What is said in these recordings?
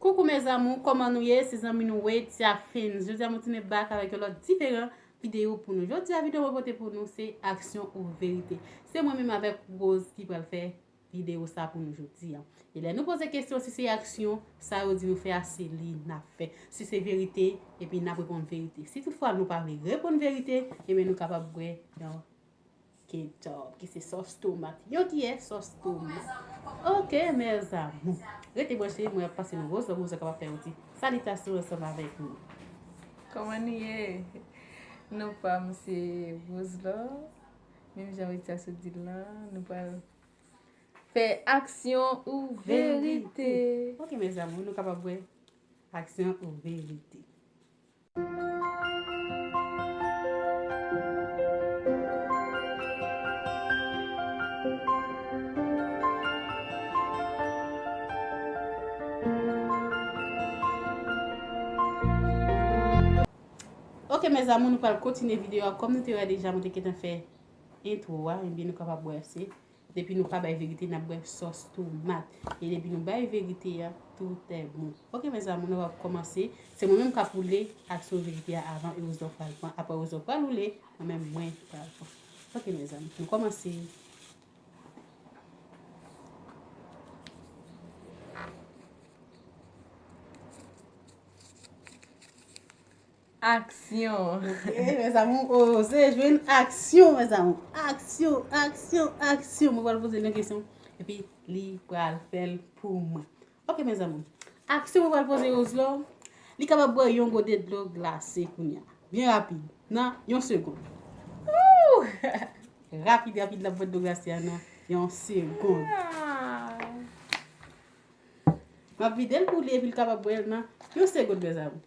Coucou mes amours koman nou ye se zanmi nou Wetia Films jodi a mwen tounen back avèk yon lòt diferan video pou nou jodi a video mwen pote pou nou se aksyon ou verite se mwen menm avèk Rose ki pral fè video sa pou nou jodi a e lè nou poze kesyon si se aksyon sa yo di nou fè a se li nap fè si se verite epi nap reponn verite si tout fwa nou pa vle reponn verite ebyen nou kapab bwè yon Ketchup ki se sòs tomat. Yon kiyè sòs tomat. Ok mes amours. Rete branche mwen ap pase nou gwo zòm ouzo kapap fè yon ti salitasyon ansanm avèk nou. Kòman nou ye? Non pa m se Roselò. Menm jan Ritha sot di l lan, nou pral fè aksyon ou verite. Ok mes amours, nou kapab wè aksyon ou verite. Ok mes amour nou pral kontinye video a kom nou te wè deja mwen te gentan fè intro a ebyen nou kapab wè se Depi nou pa bay verite nap bwè sòs tomat e depi nou bay verite ya tout est bon ok mes amour nou ap komanse se mwen menm kap woule ak sou verite ya avan Erosdor pral pran aprè Erosdor pral woule mwen menm mwen pral pran ok mes amour nou komanse. Aksyon! Oke mes amour oo se jwe n aksyon mes amour aksyon aksyon aksyon mwen pral poze l yon kesyon epi li pral fè l pou mwen oke mes amour aksyon mwen pral poze Roselò li kapab bwè yon gode dlo glase kounya byen rapid nan yon segond ooh rapid rapid lap bwè dlo glase a nan yon segond map vide l pou li epi l kapab bwè l nan yon segond mes amour.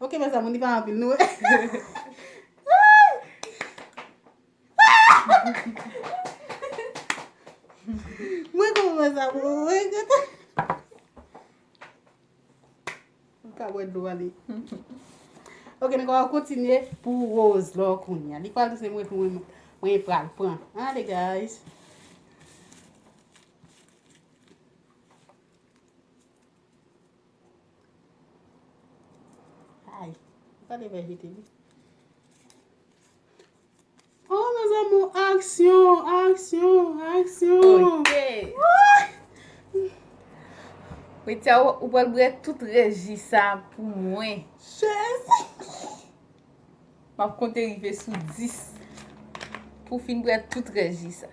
Ok mes amour li pa anpil nou Mwen kontan mes amour mwen kontan Ou ka bwè dlo a li Ok nou ka kontinye pou rose lò kounya li pral se mwen pou mwen pral pran ale guys. Ay, ou ka te fè jete li. Oh, mes amours, aksyon, aksyon, aksyon. Ok. Petya, ou pral bre tout reji sa pou mwen. Chèzi. M ap konte rive sou 10 pou fin bre tout reji sa.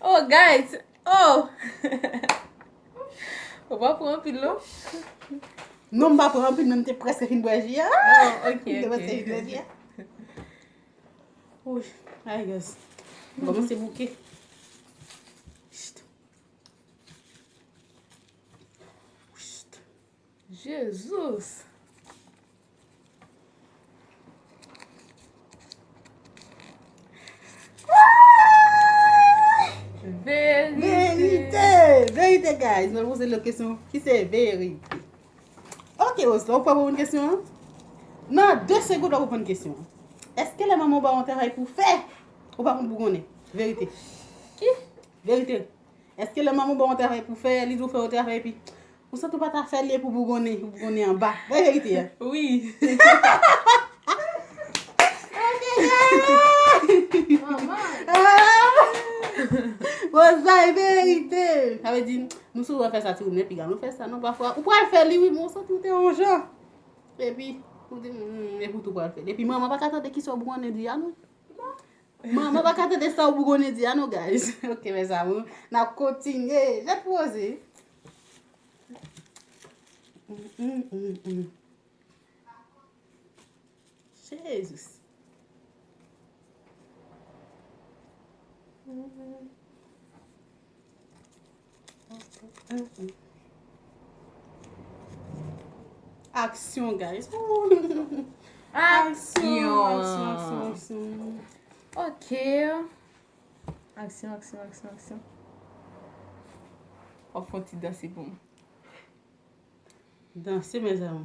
Oh guys Oh Ou pa pran anpil non Non m pa pran anpil men m te preske fin bwè ji a Oh ok M te preske fin bwè ji a Ouch Ay guys M komanse bouke Chut Chut Jesus! Verite! Verite guys! Mwen pose lòt kesyon ki se verite. Ok Rose, ou pa reponn kesyon an? Nan 2 segonn ou reponn kesyon an. Eske lè manman ou ba ou yon travay pou fè, ou pa konn pou konnen? Verite. Ki? Verite. Eske lè manman w ba w yon travay pou w fè, li di w fè yon travay epi ou santi w pa ta fè li epi w bougonnen, ou bougonnen anba. Bay verite a. Wi. Bon sa e verite. Sa vle di nou souvan fè sa ti moun yo epi gade nou fè sa non pafwa. Ou pral fè li wi men ou santi w te yon jan. Epi ou di epi w tou pral fè li. Epi manman pa ka tande kisa w bougonnen di a non. Mwen mwen paka tande sa ou bougonnen di a non guys ok mes amours nap kontinye jan pou oze Jesus Aksyon guys Aksyon Ok Aksyon aksyon aksyon aksyon Ou fon ti danse pou m Danse mezanmi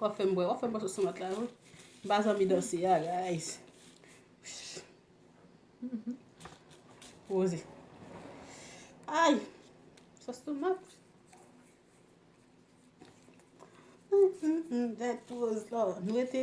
Wap fèm bwè, wap fèm bwè sos tomat la wi. M pa zanmi danse a guys. Poze. Ay! Sos tomat. Mwen te.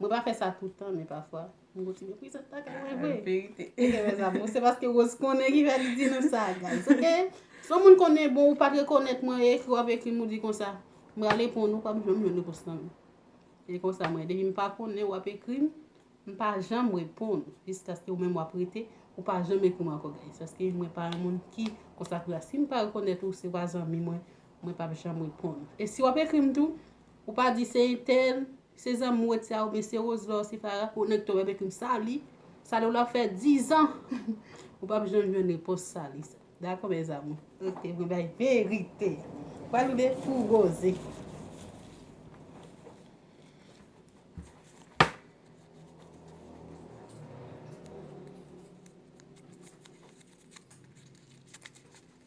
Mwen pa fè sa toutan men pafwa. M gwo ti mepriz ant lakay mwen vre. An verite. Ok mes amours, se paske Rose konnen ki fè li di nou sa guys, ok? Si yon moun konnen bon ou pat rekonèt mwen e ekri w ap ekri m ou di konsa, m pral reponn ou, pa m janm jwenn repons nan men. Se konsa mwen ye. Depi m pa konnen ou ap ekri m, m pa janm reponn ou. Jiskaske ou menm w ap rete, ou pa janm ekri m ankò guys. Paske mwen pa yon moun ki konsa tou la. Si m pa rekonèt ou, si ou pa zanmi mwen, mwen pap janm reponn ou. E si w ap ekri m tou, ou pa di se entèl, Se zanmi ou etsa ou byen se Roselor se Farah pou nèg tòmè bèk m sali sali w lap fè 10 ans ou pap janm jwenn repons sali sa dakò mes amour. Rete mwen bay verite. Pral rive pou ou Rose.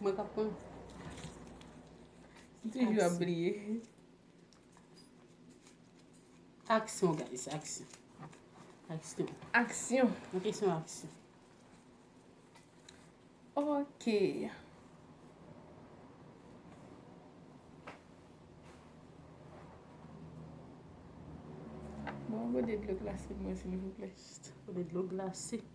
Mwen kap pran. M toujou ap bliye. Aksyon guys, aksyon. Aksyon. Aksyon. Mwen kesyon aksyon. Ok. Mwen gode dlo glase mwen silvouplè. Gode dlo glase.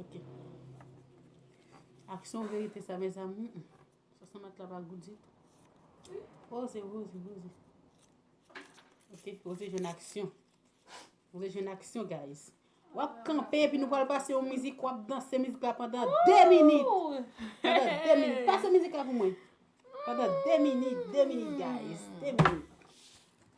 Ok. Aksyon verite sa me zanmi. Sa sa mat la pa gou di. Oh, se gou, se gou. Ok, ou se jen aksyon. Ou se jen aksyon, guys. Wap kanpe, pi nou pal pase yon mizik, wap danse mizik la pandan 2 minit. Pandan 2 minit. Pase mizik la pou mwen. Pandan 2 minit, 2 minit, guys. 2 minit.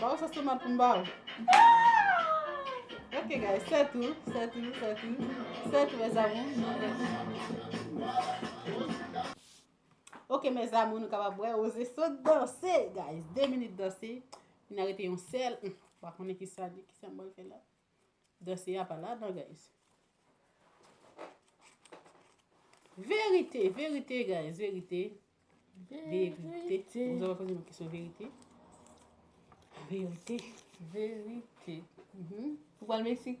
Baw sos tomat pou m baw. Ahh! Ok guys, se tou, se tou, se tou, se tou mes amours, nou prèt. Ok mes amours, nou kapab wè Rose sot danse guys. 2 minit danse, li nan rete yon sèl, m pa konnen kisa li, kisa m bal fè la. Danse a pa ladan guys. Verite, verite guys, verite. Verite. Mwen zan wè poze mwen kesyon verite. Verite. Verite. Ou pal Meksik?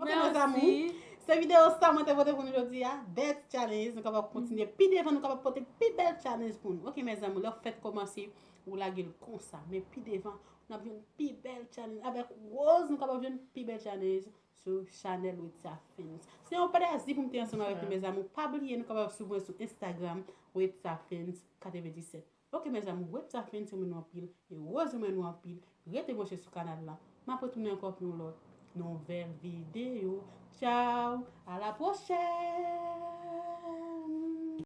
Ok mes amours, se video sa mwen te pote pou nou jodi a, bèl ti challenge, nou kapab kontinye pi devan nou kapab pote pi bèl challenge pou nou ok mes amours, lè ou fèk komanse ou lage l konsa, men pi devan nap jwenn pi bèl challenge avèk Rose nou kapab jwenn pi bèl challenge sou chanèl Wetsia Films. Se yon plèzi pou m te ansanm avèk nou mes amours, pa bliye nou kapab swiv mwen sou Instagram Wetsia Films 97. Ok mes amour wed sa fenn renmen nou anpil e rose renmen nou anpil rete branche sou kanal lan map retounen ankò pou yon lòt nouvèl video tchaww a la prochèn.